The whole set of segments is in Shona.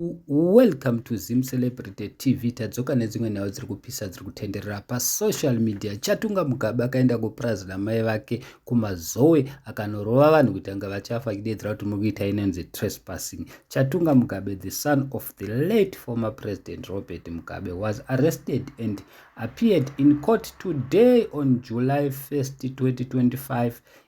Welcome to Zim Celebrity TV. Tadzoka nedzimwe nhau dziri kupisa dziri kutenderera pasocial media. Chatunga Mugabe akaenda kupurazi namai vake kumazowe akanorova vanhu kuti anga vachafa kidedzera kuti muri kuita inonzi trespassing. Chatunga Mugabe, the son of the late former president Robert Mugabe, was arrested and appeared in court today on July 1st, 2025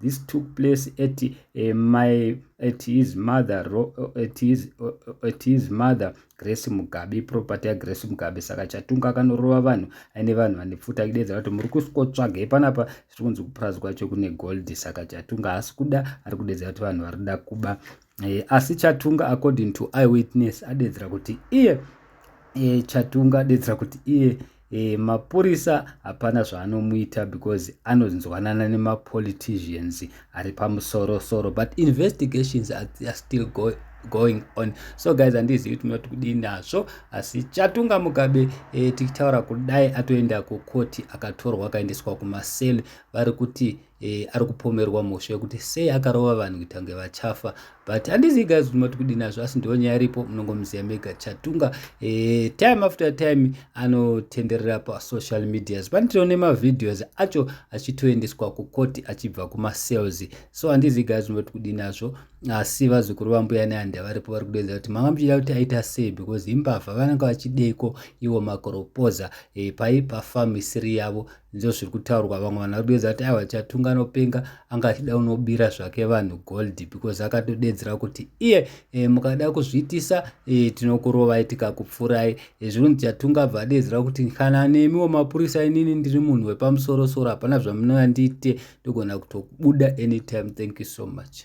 this took place at uh, my at his mother ro, eh, at his uh, at his mother grace mugabe property ya grace mugabe saka chatunga akanorova vanhu aine vanhu vane pfuta kidedza kuti muri kusikotsvagei panapa zviri kunzi kupurazi kwacho kune gold saka chatunga haasi kuda ari kudedza kuti vanhu vari kuda kuba e, asi chatunga according to eyewitness adedzera kuti iye e, chatunga adedzera kuti iye e, mapurisa hapana zvaanomuita because anonzwanana nemapoliticians ari pamusorosoro but investigations are, are still going going on so guys handizivi kuti munoti kudii nazvo asi chatunga mugabe e, tichitaura kudai atoenda kukoti akatorwa akaendeswa kumasel vari kuti e, ari kupomerwa mhosva yekuti sei akarova vanhu kuita kunge vachafa but handizivi guys kuti mati kudini nazvo asi ndiwo nyaya iripo munongomuziva mega chatunga e, time after time anotenderera pasocial medias pane tione mavideos acho achitoendeswa kukoti achibva kumasales so handizivi guys kuti mati kudini nazvo asi vazukuru vambuya neandi avaripo vari kudenza kuti manga muchida kuti aita sei because imbavha vanenge vachideiko ivo makoropoza e, paipa famu isiri yavo ndizo zviri kutaurwa vamwe vanhu vari kuedza kuti aiwa chatunga anopenga anga achida unobira zvake vanhu gold because akatodedzera kuti iye e, mukada kuzviitisa e, tinokurovai tikakupfurai e, eh, zvinonzi chatunga abva adedzera kuti kana nemiwo mapurisa inini ndiri munhu wepamusorosoro hapana zvamunoyandiite ndogona kutobuda anytime thank you so much